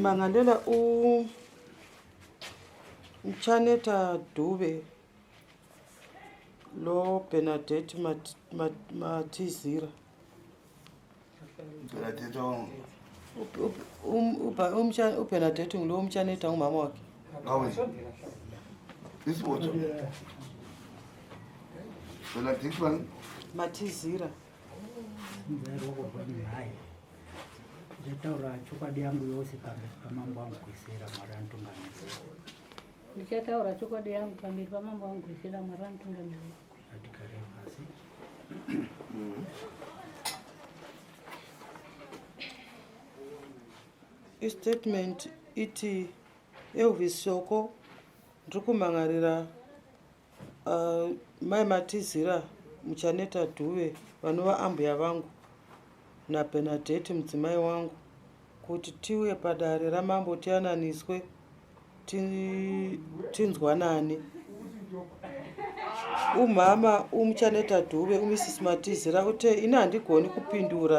Mangalela u Mchaneta Dube lo Bernadette Matizira. Mat, mat, upena tete ngulo umchaneta umama wake matizira ndichataura chokwadi yangu yose pamberi pamambo wangu kuisira mwari anotungamirira ndichataura chokwadi yangu pamberi pamambo wangu kuisira mwari anotungamirira istatement iti elvis shoko ndiri kumhan'arira uh, mai matizira muchaneta dhuve vanova ambuya vangu nabernadette mudzimai wangu kuti tiuye padare ramambo tiyananiswe tinzwanane umhama umuchaneta dhuve umisisi matizira ute ini handigoni kupindura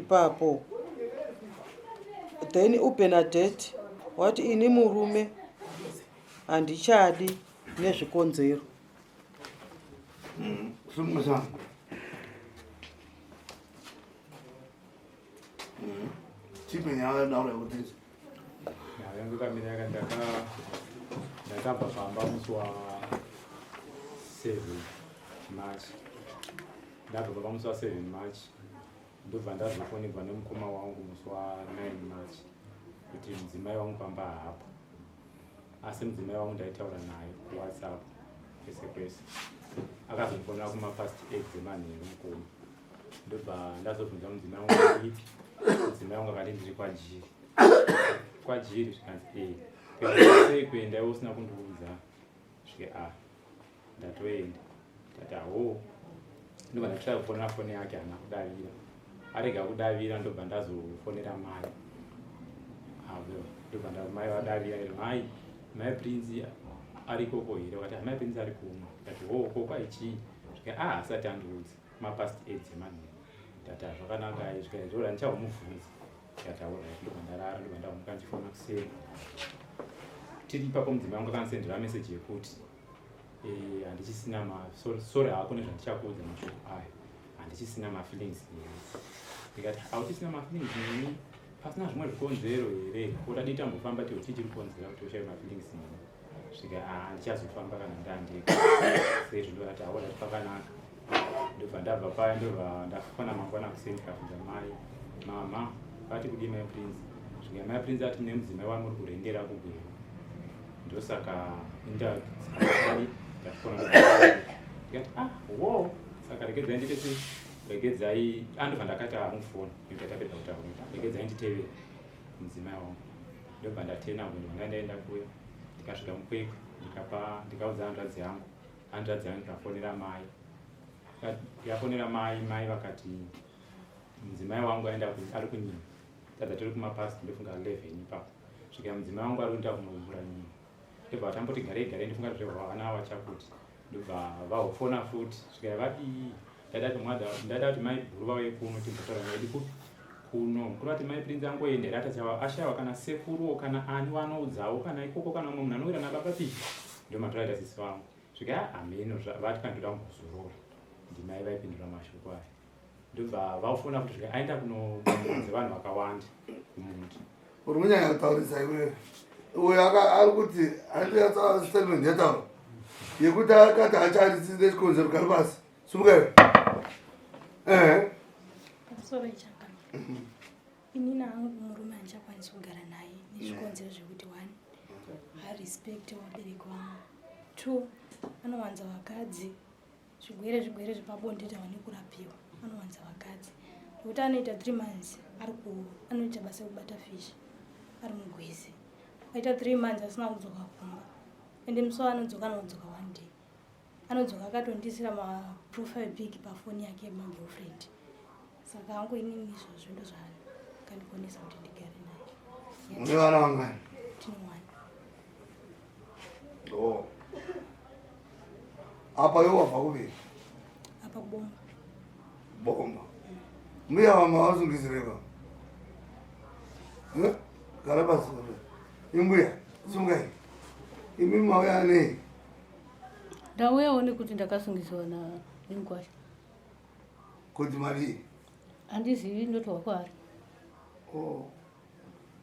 ipapo then ubenadate wati ini murume handichadi nezvikonzero mm, mm. chipe nyaya yadaura yekuti Yangu kamira yaka ndaka ndakabva pamba musi wa 7 March. Ndabva pamba musi wa 7 March. Ndobva ndazofonegwa nemukoma wangu musi wa 9 March kuti mudzimai wangu pamba haapo. Asi mudzimai wangu ndaitaura naye kuWhatsApp kwese kwese. Akazondifonera kuma past 8 dzemanheru mukoma. ndobva ndazobvunza mudzimai wangu kuti mudzimai wangu akati ndiri kwajiri kwajiri zvikanzi ee eh, sei kuenda iwe usina kundiudza svike a ah, ndatoenda ndati ahoo ndobva ndachita kufonera foni yake hana kudavira arega kudavira ndobva ndazofonera mai avo ndobva ndamai vadavira iri mai mai prinzi arikoko here vakati amai prinzi ari kumwe ndati hoo kokwa ichii zvika a ah, asati andiudzi mapast aids emanhu ndati hazvakanaka izvika izvora ndichahomubvunza ndikataura ndikwandarara ndikwandamuka ndichifona kuseni tiri ipapo mudzimba yangu akansendera meseji yekuti eh, handichisina ma sorry hako nezvandichakuudza mashoko ayo handichisina mafeelings neni ndikati hauchisina mafeelings neni pasina zvimwe zvikonzero here oda dita mbofamba tiuti tiri kukonzera kuti ushaye mafeelings neni kusvika ah, ndichazofamba kana ndandega sezvo ndovati haona kuti pakanaka ndobva ndabva paya ndobva ndafona mangwana kuseni ndikabvunza mai mama vati kudii mai prince svika mai prince ati mune mudzimai wamuri kurendera kugweru ndosaka indaai ndafona ndikati ah wo saka regedzai ndite sei regedzai andobva ah, ndakati amufona ah, nekuti atapedza kutaura regedzai nditevere mudzimai wangu ndobva ndatena munhu wanga ndaenda kuya ndikasvika mukwekwe ndikapa ndikaudza hanzvadzi yangu hanzvadzi yangu ikafonera mai ndikafonera mai mai vakati mudzimai wangu aenda ari kunyima tadza tiri kumapasi ndofunga 11 ipapo svika mudzimai wangu ari kuenda kunovhura nyima ndobva vatamboti garei garei ndifunga zvehwa vana vachakuti ndobva vahofona futi svikaya vadii ndaida kuti mai guru vauye kuno timbotaura naidi kupi kuno mukuru vati mai prinzi angoenda here atachawa ashawa kana sekuruwo kana ani vanoudzawo kana ikoko kana umwe munhu anowira nababa pi ndo matoraita sisi vangu svikaya hameno vati kandoda kuzorora ndimai vaipindura mashoko aya ndobva vafona kuti zvika aenda kunoanze vanhu vakawanda kumuntu uri kunyanya kutaurisa iwewe uyo ari kuti aitastatement yataura yekuti akati acharisire chikonzero kari pasi sumuka iwe ehe ini nangu murume andichakwanisi kugara naye nezvikonzero zvekuti one harespect wabereki wangu two anowanza vakadzi zvigwere zvigwere zvepabonde tawa nekurapiwa anowanza vakadzi nekuti anoita three months ari ku anoita basa rekubata fish ari mugwizi aita three months asina kudzoka kumba ende musi waanodzoka anodzoka one day anodzoka akatondiisira maprofile pic pafoni yake magirlfriend saka hangu inini izvozvo ndozvana kandikonesa kuti ndigare naye mune vana vangani tinowana o oh. apa yo wabva kuviri apa kubomba bomba mbuya vama vazungizireva hm? gara pasi imbuya sungai imi mauya anei ndauyawo nekuti ndakasungisiwa na nenguwasha Kuti mari. Andizivi ndotowa kwaari. Oh.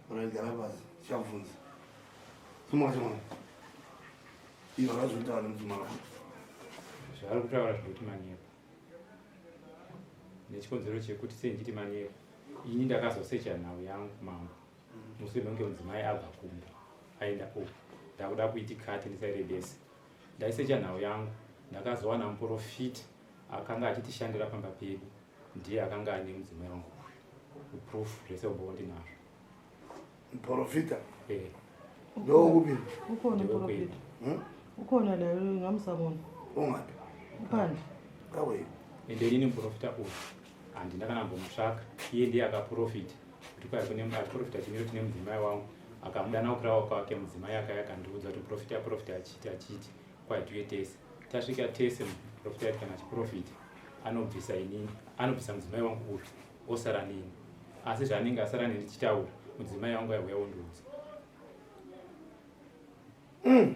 Unogara basi. Chavunza. Sumwa sumwa. Iyo akazvitaura nemdzimai wako. Zvaari kutaura zvekuti manyepo. Nechikonzero chekuti sei ndichiti manyepo. Ini ndakazosecha nhau yangu mambo. Mushure mekunge mudzimai abva kumba aenda uku. Ndakuda kuitikati ndisairebese. Ndaisecha nhau yangu ndakazowana muporofita akanga achitishandira pamba pedu ndiye akanga ane mudzimai wangu uyu proof zvese umba wandinazvo muprofita eh. ndokupi ukona profita hmm? ukona nayo ngamusamona ungapi upande kawei ende inini muprofita uyu handina kana mbomutsvaka iye ndiye akaprofita kuti kwai kune achiprofita chimiro chine mudzimai wangu akamudana kukirawa kwake mudzimai akaya akandiudza kuti profita profita achiti achiti Kwadue tese tasvika tese muprofita kana chiprofita anobvisa inini anobvisa mudzimai wangu kuti osara nini asi zvaanenge asara nini tichitaura mudzimai wangu aiuya wondiudza mm.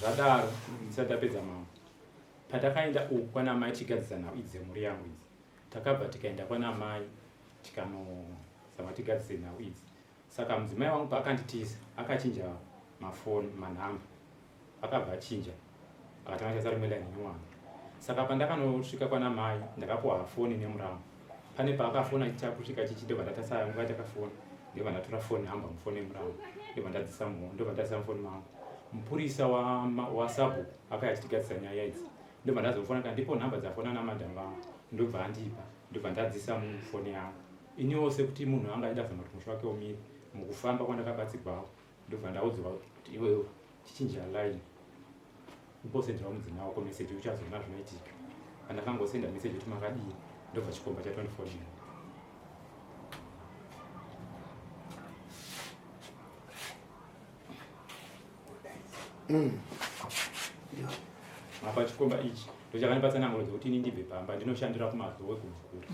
zvadaro ndisati tapedza mambo patakaenda uku kwana amai tichigadzisa nhau idzi dzemhuri yangu idzi takabva tikaenda kwana amai tikanozama tigadzise nhau idzi Saka mudzimai wangu paakanditiza akachinja mafoni manhamba akabva achinja akatanga achaisa rimwe laini nyowani saka pandakanosvika kwana mai ndakapuwa foni nemuramu pane paakafona chakusvika chichi ndobva ndatasa yangu va takafona ndobva ndatora foni hamba mufoni yemuramu ndobva ndadzisa muho ndobva ndadzisa mufoni mangu mupurisa wasabu akaya achitigadzisa nyaya idzi ndobva ndazofona kandipo nhamba dzafona namadham vangu ndobva andipa ndobva ndadzisa mufoni yangu Iniwo sekuti munhu anga achida zama kuti musha wake umire, mukufamba kwandakabatsigwawo ndobva ndaudzwa kuti iwewe chichinja line umbosenderawo mudzimai wako meseji uchazoona zvinoitika. Pandakangosenda meseji kuti makadii ndobva chikomba chatondifodera. Mm. apa chikomba ichi ndochakanipatsa nanguro dzekuti ini ndibve pamba ndinoshandira kumazowe kumukuru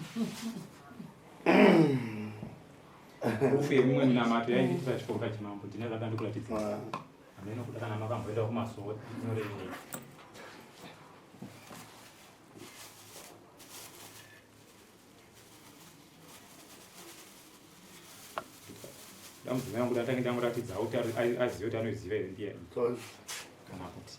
rufu yemimwe minamato yaindiitisa chikoka chimambo ndine zvakandikuratidza hameno kuda kana makamboenda kumasowe nyorenyei dambudziko yangu ndatange ndamuratidza kuti azive kuti anoiziva here ndiye kana kuti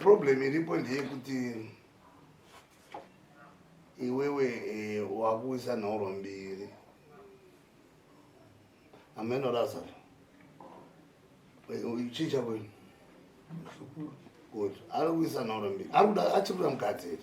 problem iripo ndeyekuti iwewe eh, wakuisa nhoro mbiri ameno razaro chii chakwenu kuti ari kuisa nhoro mbiri ari kuda achikuda mukadzi here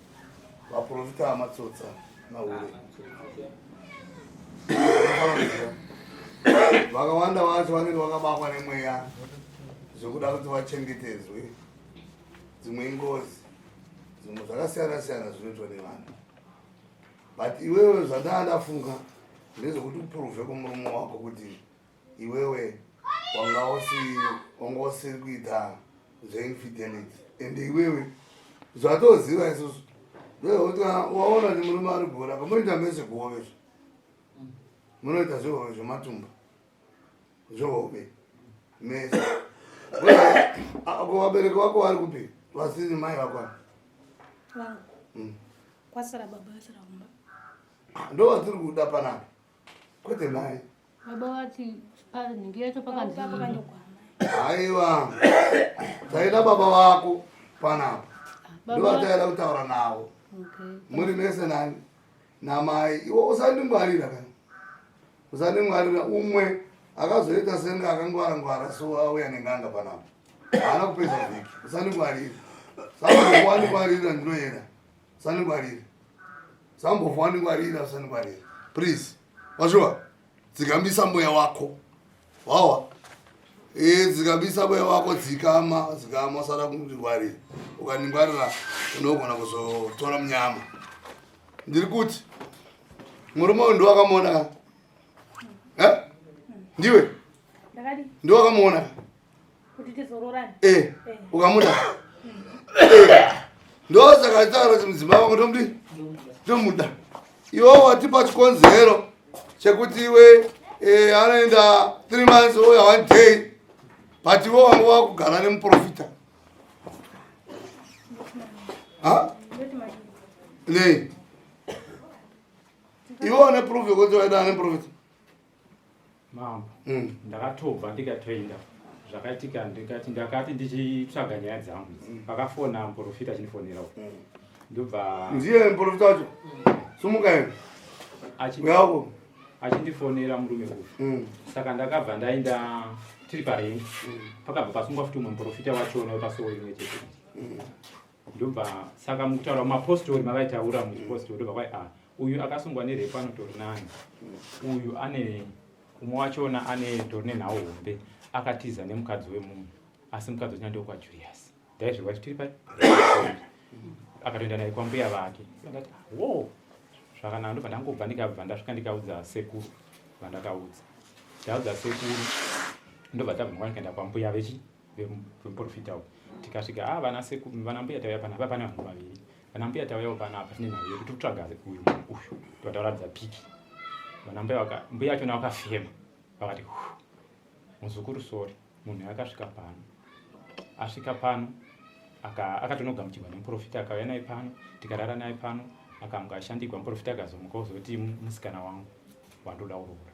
Vaporofita amatsotsa mahure. Vakawanda vacho vanenge vakabakwa nemweya zvekuda kuti vachengetedzwe dzimwe ingozi dzimwe zvakasiyana siyana zvinoitwa nevanhu but iwewe zvandaa ndafunga ndezvekuti uprove kumurume wako kuti iwewe wanga usiri wanga usiri kuita zveinfidelity and iwewe zvatoziva isusu ndokuti waona kuti murume ari gora pamunoita mese kuhove zvo munoita zvehove zvematumba zvehove mese ko vabereki vako vari kupi vasiri mai vakwana hmm. kwasara baba asara kumba ah, ndo vatiri kuda panapa Kwete mai. Baba vati nhingi yacho pakanzii. Aiwa. Taida baba vako panapa. Ndovataida kutaura navo. Muri mese nani? Namai. Iwo usandingwarira kana. Usandingwarira umwe akazoita senge akangwara ngwara so auya nenganga panapa. Haana kupedza vhiki. Usandingwarira. Saka wani kwarira ndinoenda. saningwarira sambovha waningwarira usaningwarira please wazviwa dzikambisa mweya wako wawa eh, dzikambisa mweya wako dzikama dzikama usada kundingwarira ukaningwarira unogona kuzotora munyama ndiri kuti murume uyu ndiwakamuona ka eh? ndiwe ndiwakamuona ka kuti tizororane eh ukamuda ndosaka nditaura kuti mudzimai wako ndomudi ndomuda iwo watipa chikonzero chekuti iwe eh, anoenda three months oya one day but iwo wanga wakugara nemuprofita ha nei iwe wane proof yekuti waenda nemuprofita mambo mm. ndakatobva ndikatoenda zvakaitika ndikati ndakati ndichitsvaga nyaya dzangu idzi mm. pakafona muprofita achinifonera uko mm. ndobva ndiye muprofita wacho sumuka ene uyako achindifonera murume uyu mm. saka ndakabva ndaenda tiri parengi pakabva pasungwa futi umwe muprofita wachona wepasowo imwe chete ndobva saka mukutaura mumapostori mavaitaura muchipostori ndobva kwai a ah, uyu akasungwa nerepo anotori nani uyu ane umwe wachona ane tori nenhau hombe akatiza nemukadzi wemunhu asi mukadzi wachina ndoko kwajulius ndaizvirwa chitiri pai akatoenda naye kwambuya vake ndati ah, wo zvakanaka ndobva ndangobva ndikabva ndasvika ndikaudza sekuru vandakaudza ndaudza sekuru ndobva tabva ndikaenda kwambuya vechi vemuporofita uyu tikasvika a ah, vana sekuru vana mbuya tauya panapa pane vanhu vaviri vana mbuya tauyawo panapa tine nhau yekuti kutsvaga uyu munhu uyu totauradza piki vana mbuya mbuya achona vakafema vakati muzukuru sori munhu akasvika pano asvika pano akatonogamuchirwa nemuprofita akauya naye pano tikarara naye pano akamga ashandigwa muprofita akazomuka ozoti musikana wangu wandoda uroora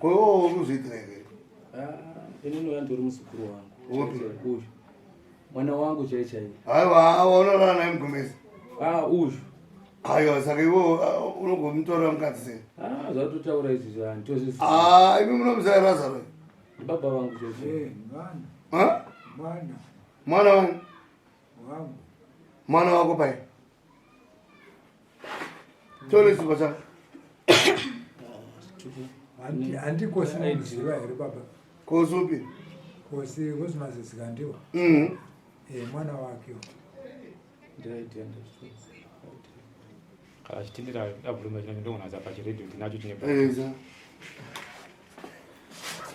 kwewo unozviitira here inini uya ndori muzukuru wangu mwana wangu chai chai aiwa unorara naye mugomezi ah, uyu aiwa saka iwo uh, unogomutorera mukadzi sei ah, zvatotaura izvi zvanditozii ah, imi munomuzai razaro baba vangu chai chai eh, mwana wangu mwana wako pai tolesipa chako handiko sinoziva here baba kosi upi kosi kosi mazizika ndiwo mhm. eh, mwana wake kana chitindira abuluma chino ndogona za pachiredio tinacho chine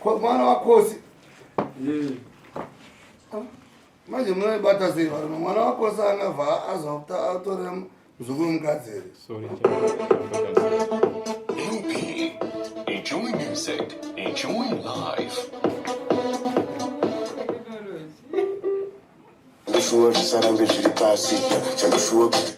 mwana wakosi ah. manje munoibata sei varume mwana wako saangabva azokuta atore muzukuru mukadzi here Enjoy music, enjoy life. Ndishuwa zvisarambe zviri pasi, chandishuwa kuti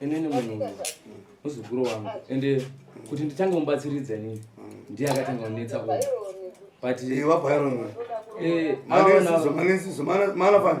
inini munhu muzukuru wangu ende kuti nditange mubatsiridza inini ndiye akatanga kunetsa ku but eh, eh, maana fanya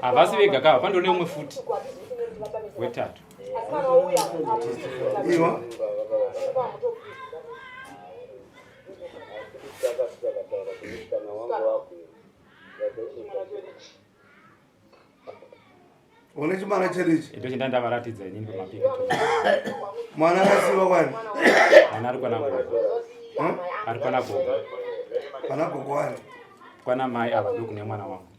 havasi vega kava pandone umwe futi wetatu iwa une chimwana cherichi ito chinda ndavaratidza inini pamapiri mwana akasiva kwani mwana ari kwana gogo hm? ari kwana gogo kwana gogo wani kwana mai ava ndokune mwana wangu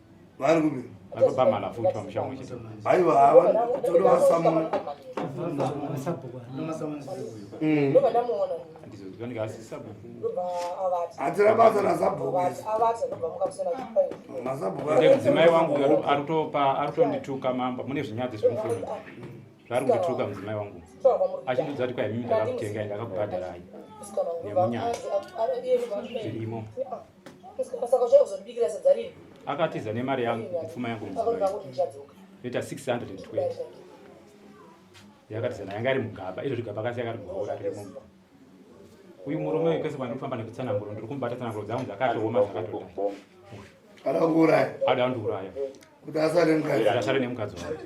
vari kupi vapamhala futi pamushamu chete aiwa hava kutoda vasamuna hatira basa nasabhukuazabhukudzimai wangu aritopa aritondituka mamba mune zvinyadzi zvemufoni zvaari kundituka mudzimai wangu achindidza kuti kwaimimi ndakakutengai ndakakubhadharai nemunyaya zvirimo akatiza nemari yangu kupfuma yangu ita 620 yakatiza nayo yanga iri mugaba izvo zvigaba kasi yakati muhaura riri mumba uyu murume uyu kwese kwandirikufamba nekutsananguro ndiri kumubata tsananguro dzangu dzakatooma dzakatodai ada kundiuraya ada kundiuraya kuti asare nemukadzi asare nemukadzi wake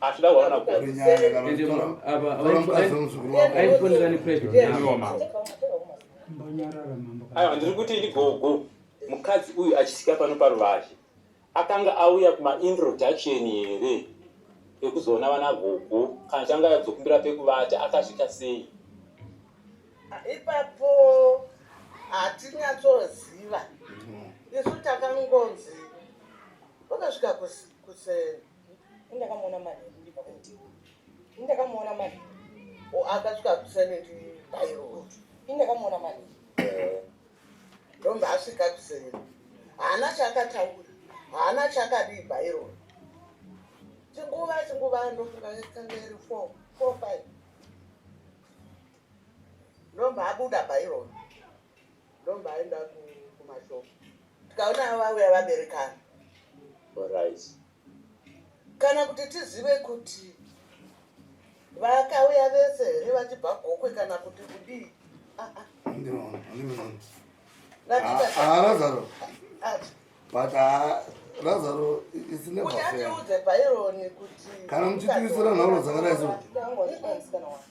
achida kuona aiwa ndiri kuti ini gogo mukadzi uyu achisika pano paruvazhe akanga auya kumaintroduction here ekuzoona vana gogo kana changa adzokumbira pekuvata akazvita sei ipapo hatinyatsoziva isu takangonzi vakasvika kuseni Ndakamuona manje ndipa kuti. Ndakamuona manje. O akasvika kusana ndi bairo. Ndakamuona manje. Ndomba asvika kusana. Haana chakataura. Haana chakadii bairo. Chinguva chinguva ndofunga yakanga iri 4 4 5. Ndomba abuda bairo. Ndomba aenda kumashop. Tikaona vauya vaberekana. Alright. Kana kuti tizive kuti vakauya vese here vachibva gokwe kana kuti kudii? Ah ah. Ndinoona, ndinoona. Lazaro. but ah, razaro kana muchitirisira nhoro dzakadai so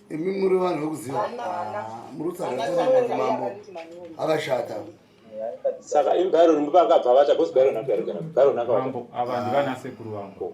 imi muri vanhu vekuziva ah, muri kutsagaaa mambo akashata saka imi byron ndipo akabva vata bcause byron akuyarigara byron akavanhu vanasekuru vangu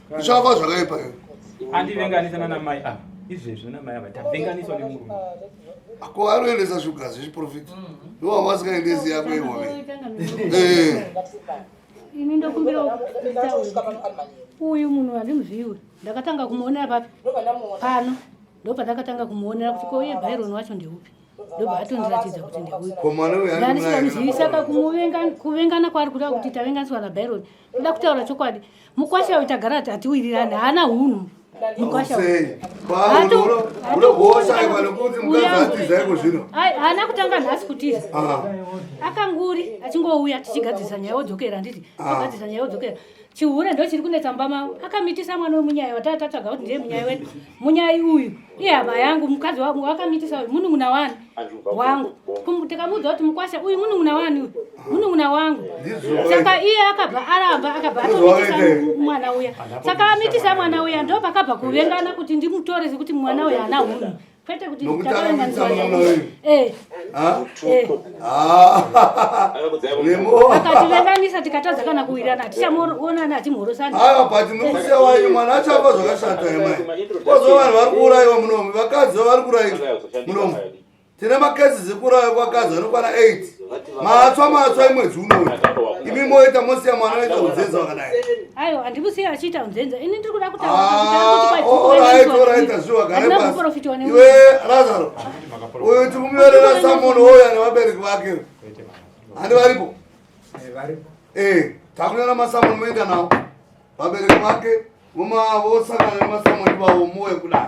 zvafa zvakaipa iyo andivenganisa nana mai ava izvezvi nana mai ava tavenganiswa nemurume ako anoendesa shuga zvechiprofita iwo mm-hmm. wasikaendesi yako iwove eh. ini ndokumbira uyu munhu andimuziwe ndakatanga kumuonera papi pano ndopandakatanga kumuonera kuti kouye byron wacho ndeupi ndobva atondiratidza kuti ndeupi ndandisikamuzivisa kakumuvengana kwaari kuda kuti tavenganiswa nabyron Nda kutaura chokwadi. Mukwasha uyu tagara ati atiwirirane haana hunhu. Mukwasha. Hato. Ulo hosha ivalo kuti mukadzi atiza iko zvino. Ai haana kutanga nhasi kutiza. Ah. Akanguri achingouya tichigadzirisa nyaya odzokera nditi. Agadzirisa ah. nyaya odzokera. Chihure ndo chiri kunetsa mba mavo. Akamitisa mwana wemunyaya watata tatatsvaga kuti ndiye munyaya wedu. Munyaya uyu. Iye hama yangu mukadzi wangu akamitisa uyu munun'una wani. wangu ndikamuudza kuti mukwasha uyu munun'una wani uyu munun'una wangu saka iye akabva aramba akabva atomitisa mwana uya saka amitisa mwana uya ndo pakabva kuvengana kuti ndimutore sekuti mwana uya ana hunhu kwete kuti eh. ah. akativenganisa tikatadza kana kuwirana tichamuonana hatimhorosani ava but mukusewayi mwana achapa zvakashata yamai kozova vanhu vari kuurayiwa munomi vakadzi vavari kurayiwa munomu tine makesi dzikurauya kwakazi anokwana 8 matswa matswa imwedzi unoi imi moita mosiya mwana aita unzenza wakadai aiwa handimusiya achiita unzenza ini ndiri kuda kutauraoraita zviwa gareiwe razaro uyu tikumuyorera samunhu woyo ane vabereki vake handi varipo e takunyora masamunhu moenda nawo vabereki vake vosangana nemasamunhu ivavo moyo kudai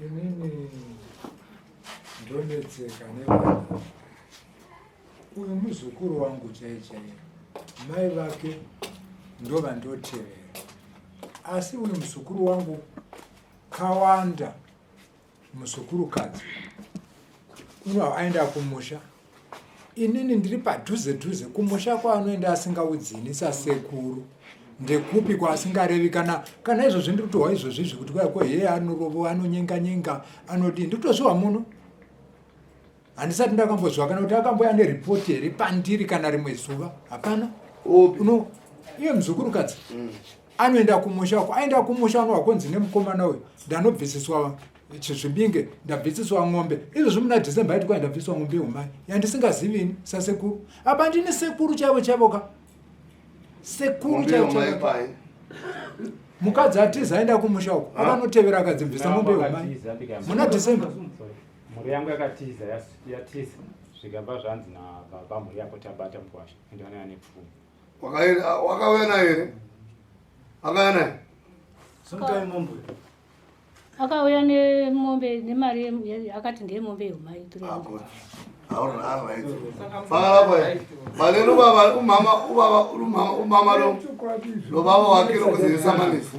Inini ndonetseka nevana uyu muzukuru wangu chaiye chaiye mai vake ndovandotevera asi uyu muzukuru wangu kawanda muzukuru kadzi uno aenda kumusha inini ndiri padhuze dhuze kumusha kwaanoenda asingaudzini sasekuru ndekupi kwaasingarevi kana kana izvozvi ndiri kutohwa izvozvi izvi kuti kwaya kweheye anorovo anonyenga nyenga anodii ndiri kutozviwa muno handisati ndakambozviwa kana kuti akamboya neripoti here pandiri kana rimwe zuva hapana uno iye muzukurukadzi mm. anoenda kumusha uko aenda kumusha anowa kunzi nemukomana uyu ndanobvisiswa chizvibinge ndabvisiswa ng'ombe izvozvi muna december yaiti kwai ndabviswa ng'ombe yehumai yandisingazivini sasekuru apa ndine sekuru chaivo chaivo ka sekuru chaivo chaivo mukadzi atiza aenda kumusha uko akanotevera akadzibvisa ng'ombe yehumai muna december mhuri yangu yakatiza yatiza zvikabva zvanzi nababa mhuri yako tabata mukwasha ende vanaya nepfuma wakauya naye here akauya naye akauya nemombe nemari akati ndeyemombe yomai balelo baba umama ubaba umama lo lobaba wakhe lokuzisamanisa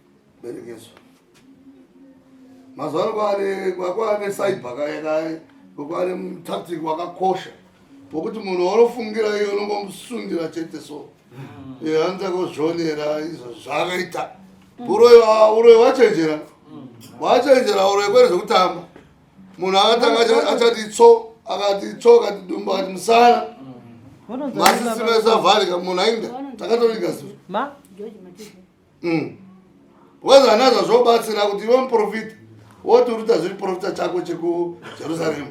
berekeso mazuva ano kwaane kwaane cyber kaye kaye kwaane mutactic wakakosha wokuti munhu waunofungira iye unongomusundira chete so hanza mm. kuzvionera izvo zvaakaita mm. uroyi ah, uroyi wachenjera mm. wachenjera uroyi kwere zvekutamba munhu akatanga achati tso akati tso akati dumba akati musana masisi mesavharika munhu ainda takatorika zuva Mm. Wazi vana zvazvobatsira kuti iwe muprofita woti uri kuita zviri profita chako chekujerusaremu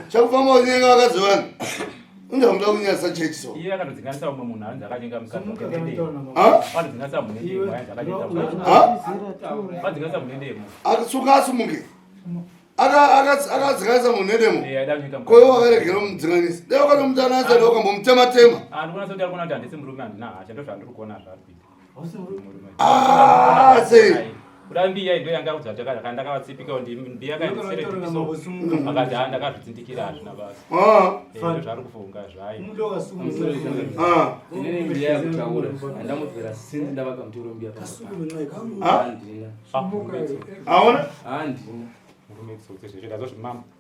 chekufamba unyenga vakadzi vanhu unza muda kunyasa chechi so iye akanodzinganisa umwe munhu anzi akatenga musadzinganisa munendemo akasuka asumuke akadzikanisa munhu nedemo koyo wakaregera mudzinganisa dai wakatomutananisa dai wakambomutematema Ah, sei kuda mbiya indo yanga kudza kuti akati ndakavatsipika kuti mbiya kandisere tipiso akati ha ndakazvitsindikira hazvina basa ah. eh, ndo zvari kufunga zvayo aona ah. handina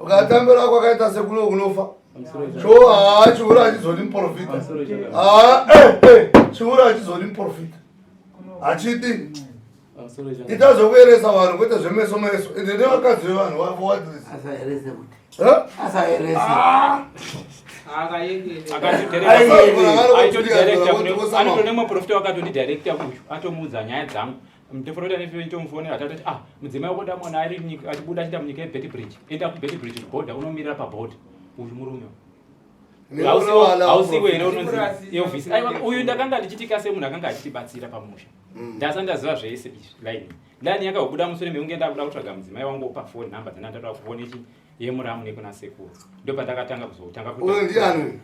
ukatambira wako akaita sekuno kunofa cho haa chihure hachizodi muprofita haa eh, eh, chihure hachizodi muprofita hachidi itazokuyeresa vanhu kwete zvemeso meso ende nevakadzi vevanhu vavo wadrisiasaerese akatodirecta kuno anotonemwe profita wakatodirecta kuyu atomuudza nyaya dzangu Mteforoti ane firo itomufonera tata kuti ah mudzimai wako ndamwana ari achibuda achienda munyika yeBetty Bridge. Enda kuBetty Bridge kuborder unomirira paborder. Uyu murume. Hausiwo here unonzi Elvis. Aiwa uyu ndakanga ndichitika semunhu akanga achitibatsira pamusha. Mm. Ndasa ndaziva zvese izvi line. Line yakabuda musure mekunge ndakuda kutsvaga mudzimai wangu pa phone number dzana ndatoda kufona ichi yemuramu nekuna sekuru. Ndopandakatanga kuzotanga kuti. Uyu ndiani?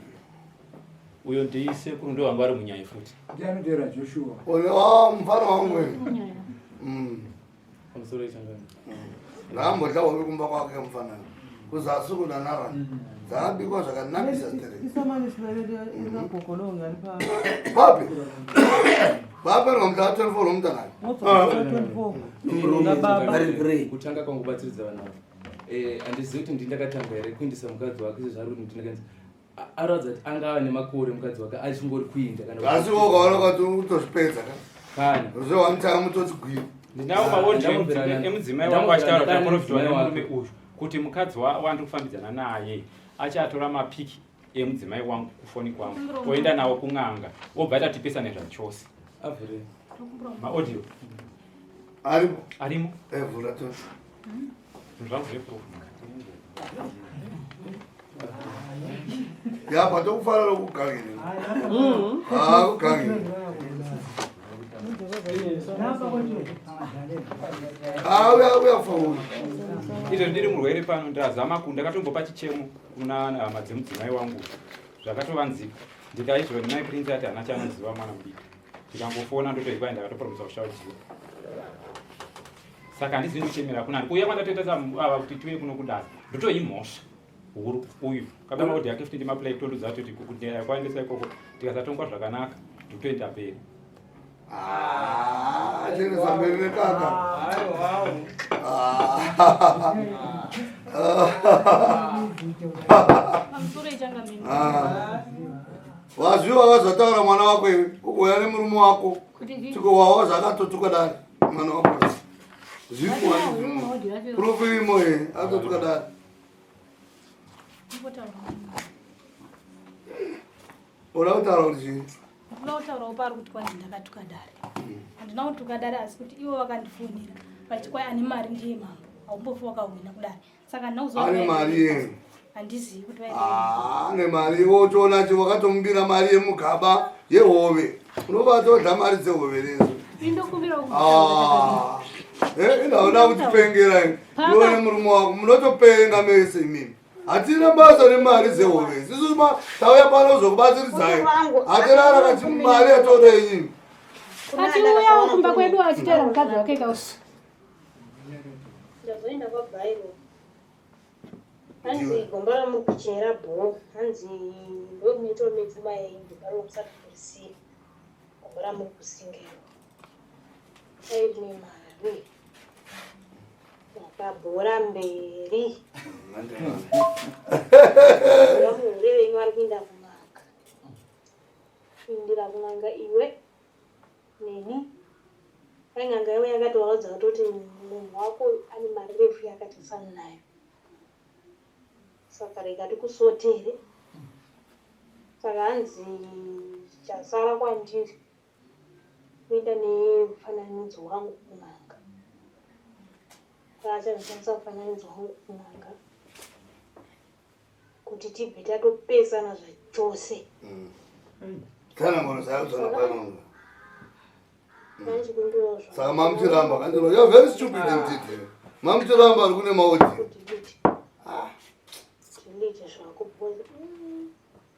uyo ndii sekuru ndo vanga vari munyaya futi ndianotera joshua ah, mufana wangu mm. pamusoro ichangani mm. ngaambodla wave kumba kwake mufana kuzasi kunanara mm. dzakabikwa zvakanakisa papi baba nomda 24 lomtanani kutanga kwangu batsiridza vana eh, andizivi kuti ndindakatanga here kuindisa mukadzi wake sezvaruri ndindakanzi Anoratidza kuti anga ava nemakore mukadzi wake achingori kuinda kana asi wo ukaona kwati utozvipedza ka kana uzowanitanga mutoti gwini ndinawo maodhi emudzimai wangu achitaura kuti aporofitwa nemurume uyu kuti mukadzi wandiri kufambidzana naye achatora mapiki emudzimai wangu kufoni kwangu oenda nawo kun'anga obva atatipesane zvachose maaudio arimo arimo evhura eh, tose zvangu zveproof ya patokufanira kugangire akugangire auya auya fauri izvo ndiri murwere pano ndazama ku ndakatombopa chichemo kuna hama dzemudzimai wangu zvakatovanzika ndikaizvo mai prince ati hana chanoziva mwana mudiki ndikangofona ndotoibai ndakatopromisa kushaudziwa saka handizivi ndichemera kuna ani kuuya kwandatoita ava kuti tiuye kuno kudaro ndotoimhosva huru uyu kabaa maodi yake futi ndimaplai tondudza kuti kudera kwaendesa ikoko tikasatongwa zvakanaka ndotoenda mberi ah, chenesa mberi nekaka ah. Wazviwa wazataura mwana wako iwe ukoya nemurume wako tiko wawa zvakatotuka dai mwana wako zviurokuimo e atotuka dai oda kutaura kuti chii ndikuda kutaura upa ari kuti kwanzi ndakatuka dare handina kutuka dare asi kuti ivo vakandifonera vachiti kwai ane mari ndiye mambo haumbofi wakahwina kudare Saka ndinokuzoona. Ane mari yenu. Handizivi kuti vaenda. Ah, ane mari wotoona che wakatomubira mari yemugaba yehove. Unobata odla mari dzehove lezo. Indokumbira kuti. Ah. Eh, ndaona kuti pengera ini. Ndione murume wako munotopenga mese imimi. hatina basa nemari dzehove isisu ma tauya pano zvokubatsiridzai hatirara kati mari yatoda iyini achiuyawo kumba kwedu achitera mukadzi wake kausi ndazoenda kwabhairo hanzi gomba ramuri kuchera bho hanzi ndokunoitawo mipfuma yenyu ndobaro kusati kurisiya gomba ramuri kusingirwa aine mari yakabhora mberi vamuhure venyu vari kuenda kumaka indira kunanga iwe neni kwai n'anga iwe yakatovaudza kutoti munhu wako ane mari refu yakati sani nayo saka rega tikusotere saka hanzi chasara kwandiri kuenda nemufananidzo wangu kun'anga kwaachazoshandisa mufananidzo wangu kun'anga kuti tibve tatopesana zvachose kana ngono zayaudzana pano saka mamutiramba kandiro you're very stupid and it eh? mamutiramba ari kune maudhi ah.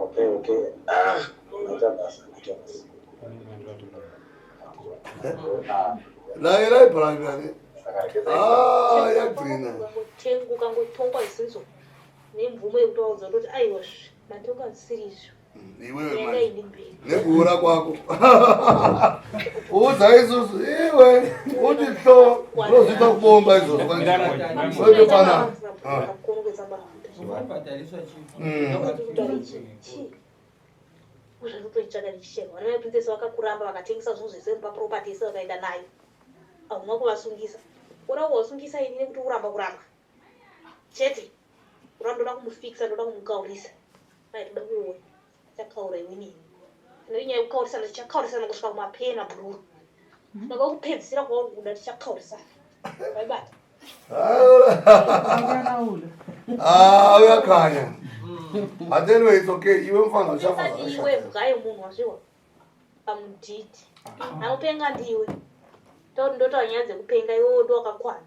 Okay, okay. Ah, unaita basa, unaita basa. Naye naye parangani. Ah, yagwina. Tengu kangotongwa isizo. Nemvumo yekutaudza kuti aiwa matongo asiri izvo. iwewe manje nekuhura kwako uudza isusu iwe uti hlo unozviita kubomba izvozvo kwandiotopana uzvatotoitsvaga ndichichema vana veprincess vakakuramba vakatengesa zvinhu zvese mupaproperty yese vakaenda nayo hauna kuvasungisa ora kuvasungisa ini nekuti uramba kuramba chete kuramba ndoda kumufikisa ndoda kumukaurisa mai toda kuona chakaura iwini ine nyaya yekukaurisana tichakaurisana kusvika kumapee mabhururu ndava hmm. kupedzisira kwauri kuda tichakaurisana vaibata ah, uyakanya but anyway it's okay iwe mfana uchafaiwe mgaye munhu wazviwa pamudhiti ah. anopenga ndiwe tauti ndotaura nyaya dzekupenga iwe wodo wakakwana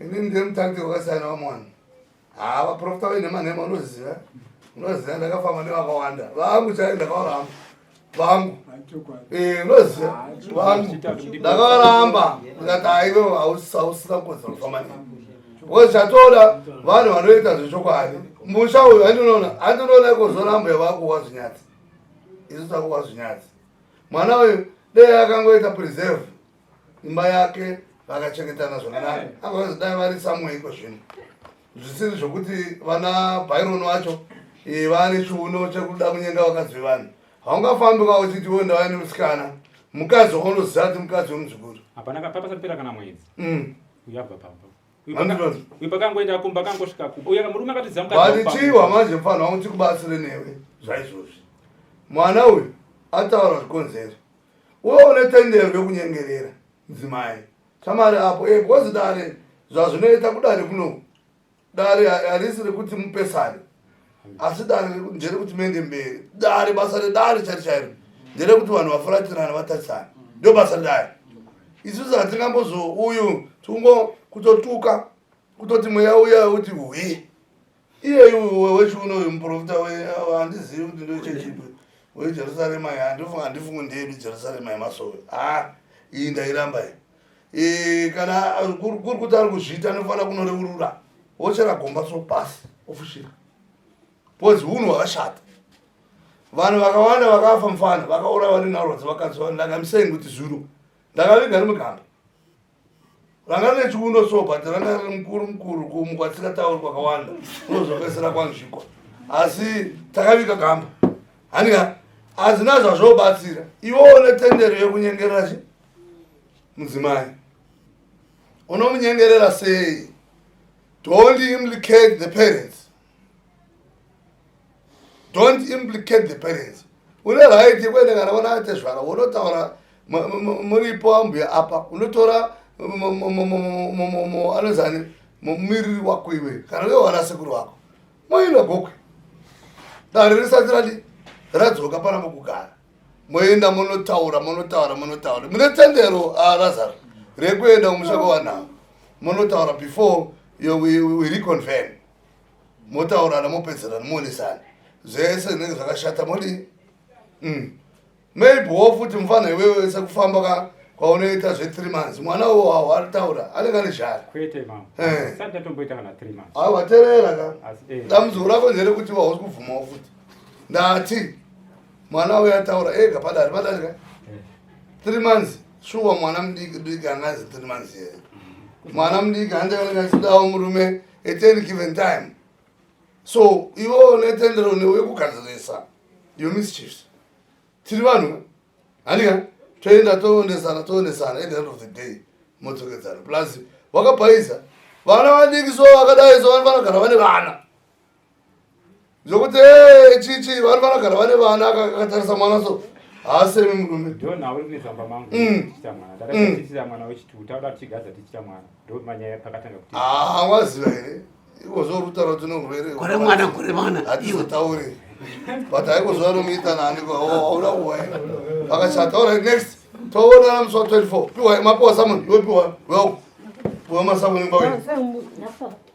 Ini ndiye mutariki wakasiyana vamwe vanhu. Haa vaprofita vaine manhema unoziva. Unoziva ndakafamba nevakawanda. Vangu chaivo ndakavaramba. Vangu. Eh, unoziva. Vangu. Ndakavaramba. Ndikati haiwe hausina kukodzera kufamba navo. Because chatoda vanhu vanoita zvechokwadi. Musha uyu handinoona handinoona ikozoramba yavakuwa zvinyadzi. Isu takuwa zvinyadzi. Mwana uyu dei akangoita preserve. imba yake vakachengetana zvakanaka apa vazodai vari samuei kwezvino zvisiri zvokuti vana byron vacho eh, vane chiuno chekuda kunyenga vakadzi vevanhu haungafambi ka uchiti wo ndava nemusikana mukadzi waunoziva kuti mukadzi wemuzukuru hapana papasapera kana mwedzi mm. uyabva papa uipakangoenda kumba akangosvika kumba uya murume akatizivaatichiwa manje mfanha wangu tikubatsire newe zvaizvozvi mwana uyu ataura zvikonzero Wewe une tendero rekunyengerera mudzimai shamari apo e because dare zvazvinoita kudare kuno dare harisi rekuti mupesane asi dare nderekuti mende mberi dare basa redare chari chairo nderekuti vanhu vafuratirana vatarisana ndo basa redare isusu hatingambozouyu tikungo kutotuka kutoti mweya uya uti hwii iyeyu wechiuno uyu muprofita handizivi kuti ndochechipi wejerusarema handifunga handifungi ndeyedu jerusarema yemasowe ha iyi ndairamba iyi e, kana kuri kuti ari kuzviita anofanira kunoreurura wochera gomba so pasi ofushira bcause hunhu hwakashata vanhu vakawanda vakafa mufana vakaura vari narodzi vakaziva ndakamiseni kuti zuro ndakaviga ri mugamba vanga rine chiundo so but ranga riri mukuru mukuru kumukwatsika tauri kwakawanda unozopesera kwanzvikwa asi takaviga gamba hanika hazina zvazvobatsira iwo une tendero yekunyengerera chi mudzimai unomunyengerera sei don't implicate the parents don't implicate the parents une right yekuenda kana vana vatezvara wonotaura muripo ambuya apa unotora anozani mumiriri wako iwe kana uye wana sekuru wako moenda gokwe dare risati rati radzoka pana mukugara moenda monotaura monotaura monotaura mune tendero arazaro ah, rekuenda kumusha kwawanhavo monotaura before we reconvene motaurana mopedzerana muonesana zvese zvinenge zvakashata modi mm. maybe wo futi mufana iwewe wese kufamba ka kwaunoita zve three months mwana uwo awo aritaura anenge ane zhara awa eh. terera ka eh. dambudziko rako ndere kuti wausi kubvumawo futi ndati mwana uyo ataura ega padari padari ka eh. three months shuwa mwana mudiki diki angazi three months here mwana mudiki handeonekasidawo murume at any given time so iwo unetendero newe kugadzirisa your mischiefs tiri vanhu hanika toenda toonesana toonesana at the end of the day modzokedzana plus wakapaiza vana vadiki so vakadai so vanogara vane vana zvokuti eh, chichi vari vanogara vane vana akatarisa mwana so haasemi murume hawaziva mm. mm. ah, here ivo zvorutaura kuti unorwere gore mwana gore mwana hatizotaure but haikozuva anomuita nani auda oh, kuwa akachata orit next toonana musi wa 24 piwa mapiwa samon yopiwa wel piwa masakunemba wenu